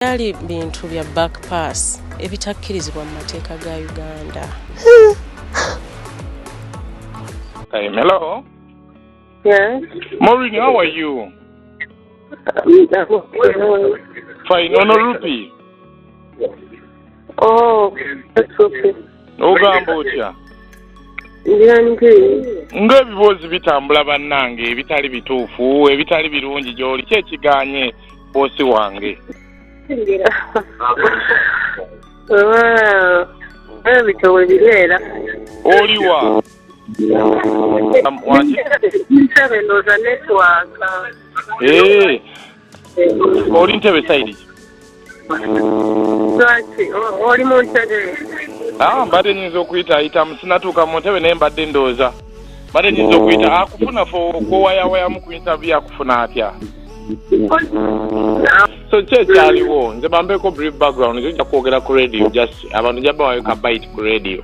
Byali bintu bya back pass ebitakkirizibwa mu mateeka ga Uganda. Hey, hello. Yes. Maureen, how are you? Fine, no, no, Rupi. Oh, that's okay. ogamba otya ng'ebiboozi bitambula bannange ebitali bituufu ebitali birungi gy'oli ki ekiganye boosi wange ebitoowe bibeera oliwa nsabe ndooza netwaka oli ntebe sayidi lwaki oli mu ntebe ah, mbadde nyinza okuyita ayitamu sinatuuka mu ntebe naye mbadde ndooza mbadde nyinza okuyita akufuna fe okwowayawayamu ku intavi akufuna atya so ki ekyaliwo nze bambeeko brief background nze ojja kwogera ku radio just abantu jabawayokabait ku radio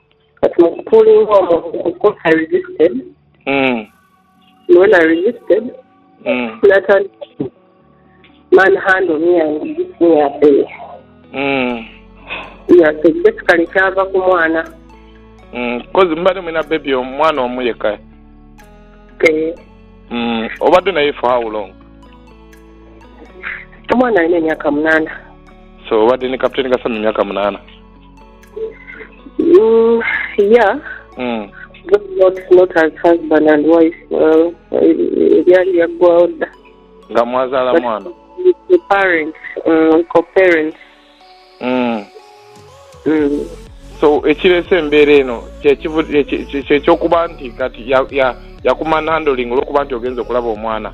But my pulling hormone, of course, I resisted. Mm. And when I resisted, mm. Nathan manhandled me and beat me up there. Mm. Yeah, so basically, kyava ku mwana. Mm, kozi mbadde mulina bebi omwana omu yekka eh. mm, obadde naye for how long omwana alina emyaka munaana so obadde ne kapiteni kasana emyaka munaana Mm, yeah. Mm. Not, not, not as husband and wife. Uh, ebyali byaggwawo dda. nga mwazaala But- mwana The parents, mm, co-parents. Mm. Mm. so ekireese embeera eno kyekivu- kye- kye- kye- kyekyokuba nti kati ya- ya- yakumanhandling olwokuba nti ogenza okulaba omwana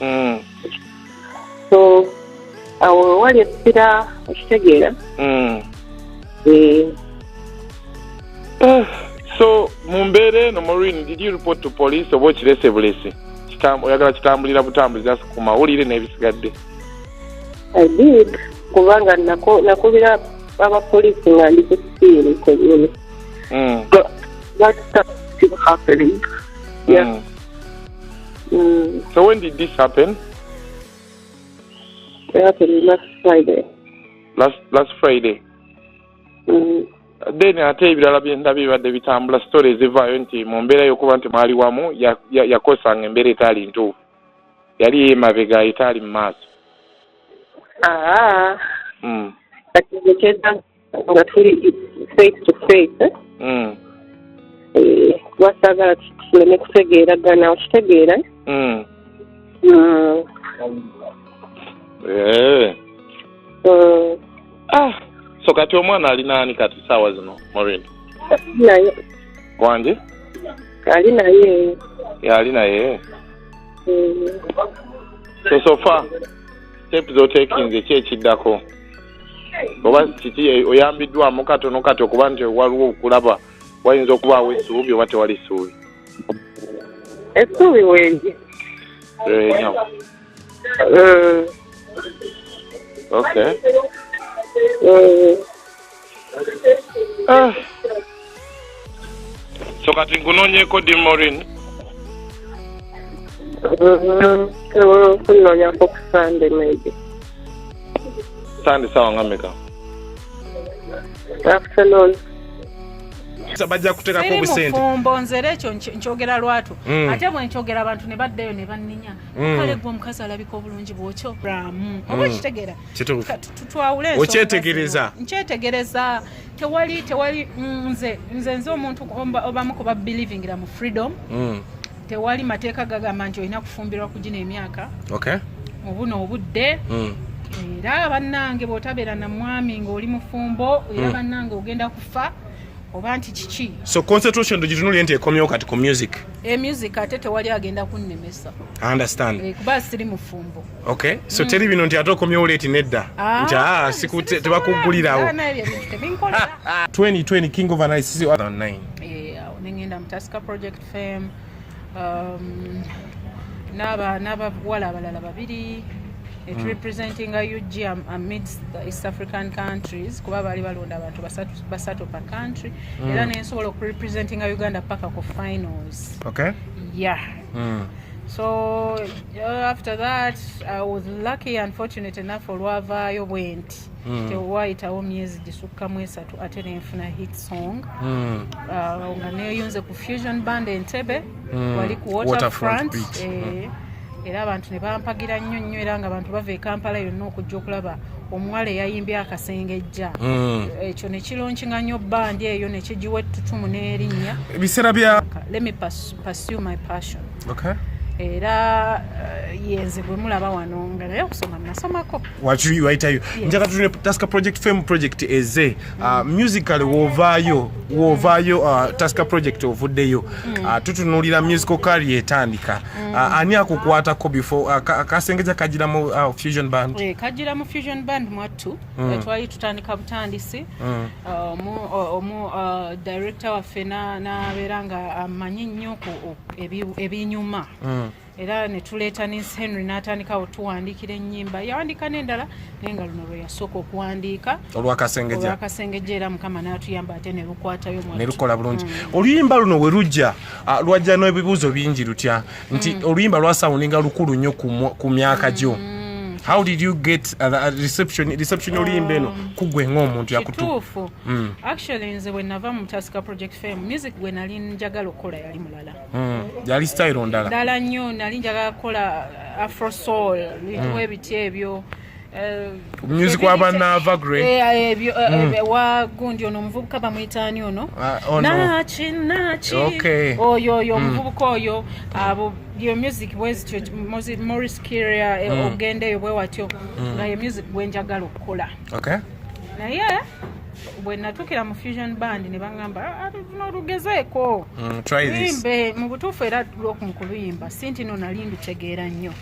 mm. so awo wewali essira okitegeera mm. eh. eh, so mu mbeera eno morin did you report to police oba okirese bulesi oyagala kitambulira butambuzi just ku mawulire n'ebisigadde i did kubanga nakubira abapoliisi nga ndi ku siiri kwenyini mm. that stuff still happening yeah mm. Mm. So when did this happen? It happened last Friday. Last last Friday. Mm. Then ate ebirala byenda bibadde bitambula story ezivaayo nti mu mbeera y'okuba nti mwali wamu yakosanga ya, ya embeera etaali ntuufu yali yemabega etaali mu maaso ah. mm. nga tuli face to face mm. eh, wasagala tuleme kutegeeragana okitegeera mm. mm. eh. ah, so kati omwana ali naani kati saawa zino morin naye wangi ali naye ali naye so sofa step zotekinze ki ekiddako oba kiki e, oyambiddwamu katono kati okuba nti waliwo okulaba wayinza okubaawo essuubi oba tewali ssuubi essuubi wengi enyo eh, ok eh. ah. so kati nkunoonyeeko dimorin kunoonyako ku sande maybe sande sawa nga meka afternoon bajja kuteekako obusente mufumbo nzera ekyo nkyogera lwatu mm. ate bwe nkyogera abantu ne baddayo ne banninya mm. kale gwe omukazi alabika obulungi bwokyoramu mm. oba okitegeera okyetegereza nkyetegereza tewali tewali mm, nze nze nze omuntu obamu kuba believingira mu freedom mm. tewali mateeka gagamba nti olina kufumbirwa ku gino emyaka okay. mu buno obudde mm. era bannange bwotabeera na mwami ng'oli mufumbo era mm. bannange ogenda kufa oba nti kiki so concentration tugitunulye nti ekomyewo kati ku music e music ate tewali agenda kunnemesa understand eh, kuba siri mufumbo Okay. So mm. teri bino nti ate okomyewo leti nedda ah, nti ah, siku tebakuggulirawo 2020 king of analysis 2009 nengenda mutaska project fame um, n'abawala abalala babiri it mm. representing a ug amidst the east african countries kuba baali balonda abantu basatu pa country mm. era nensobola okurepresentinga uganda paka ku finals okay. yeah mm. so uh, after that i was lucky and fortunate enough olwavaayo bwenti mm. tewayitawo myezi gisukkamu esatu ate nenfuna hit song mm. uh, nga neyunze ku fusion band entebe mm. wali ku waterfront, waterfront eh, mm. era abantu ne bampagira nnyo nnyo era nga abantu bava ekampala yonna okujja okulaba omuwala eyayimbye akasengejja mm. ekyo nekilonkinga nnyo bandi eyo nekigiwa ettutumu n'erinnya ebiseera bya lemipas Pursue my passion. Okay. era uh, yenze gwe mulaba wano nga naye okusoma nasomako wakiwaitayo yes. njaka tune taska project fame project eze mm. uh, musical wovaayo wovaayo uh, taska project ovuddeyo mm. uh, tutunulira musical kari etandika mm. uh, ani akukwatako before uh, kasengeza kajiramu uh, fusion band e, eh, kajiramu fusion band mwattu mm. Eh, twali tutandika butandisi mm. uh, omu uh, director waffe nabeera nga amanyi nnyo ebinyuma mm. era netuleeta nins henry natandikawo tuwandiikira enyimba yawandiika nendala naye nga luno lweyasooka okuwandiika olwakasengejja era mukama natuyamba ate nelukwatayo nelukola bulungi oluyimba luno werujja ah, lwajja n'ebibuuzo bingi lutya nti mm. oluyimba lwasawuninga lukulu nnyo ku myaka gyo mm. how did you get uh, uh, reception reception oluyimba eno um, kugwe ng'omuntu yakutuufu mm. actually nze bwe nava mu tasika project fame music gwe nali njagala okukola yali mulala mm. yali style ndala ndala nnyo nali njagala kukola uh, afro soul mm. ebintu ebitya ebyo Eh, omunyuzi kwa banaava gre eh, eh, hmm. wagundi ono omuvubuka bamwitaani ono ah, oh, naki naki oyo oyo hmm. omuvubuka oyo abo yo music bwezityo moris kiria hmm. ogendeyo bwewatyo nga ye music bwenjagala okukola naye bwe natuukira mu fusion band ne baŋŋamba ah, ah, nolugezeeko mm, imbe mu butuufu era lwokumukuluyimba si nti no nali ndutegeera nnyo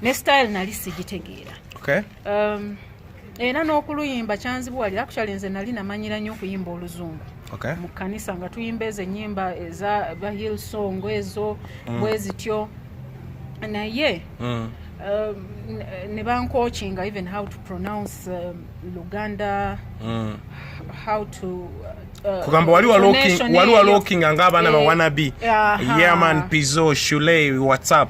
ne style nali sigitegeera okay. um, era n'okuluyimba kyanzibuwalira kukyali nze nali namanyira nnyo okuyimba oluzungu okay. mu kanisa nga tuyimba ezo enyimba eza bahil song ezo mm. bwezityo naye mm. uh, ne bankokinga even how to pronounce uh, luganda mm. how to uh, kugamba wali walokinga ng'abaana bawanabi yeaman pizo shulei whatsapp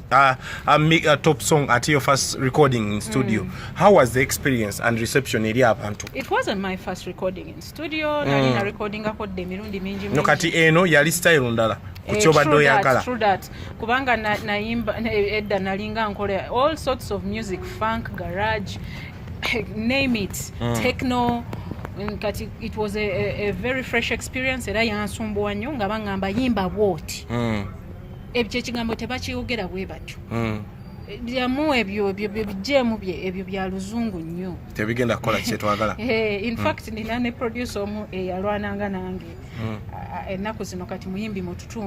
Uh, a, mi- a top song at your first recording in studio mm. how was the experience and reception eri abantu it wasn't my first recording in studio mm. nali na recording ako de mirundi mingi no kati eno yali style ndala eh, kukyobadde oyagala true that kubanga nayimba na, na edda nalinga nkola all sorts of music funk garage name it mm. techno mm, kati it was a, a, a very fresh experience era yansumbuwa nnyo nga bangamba yimba bwoti mm. ebyo ekigambo tebakyogera bwe batyo hmm. byamu ebyo bijeemu ebyo bya luzungu nnyo tebigenda kukola kyetwagala eh, infact hmm. nina ne producer omu eyalwananga nange hmm. ennaku zino kati muyimbi mututu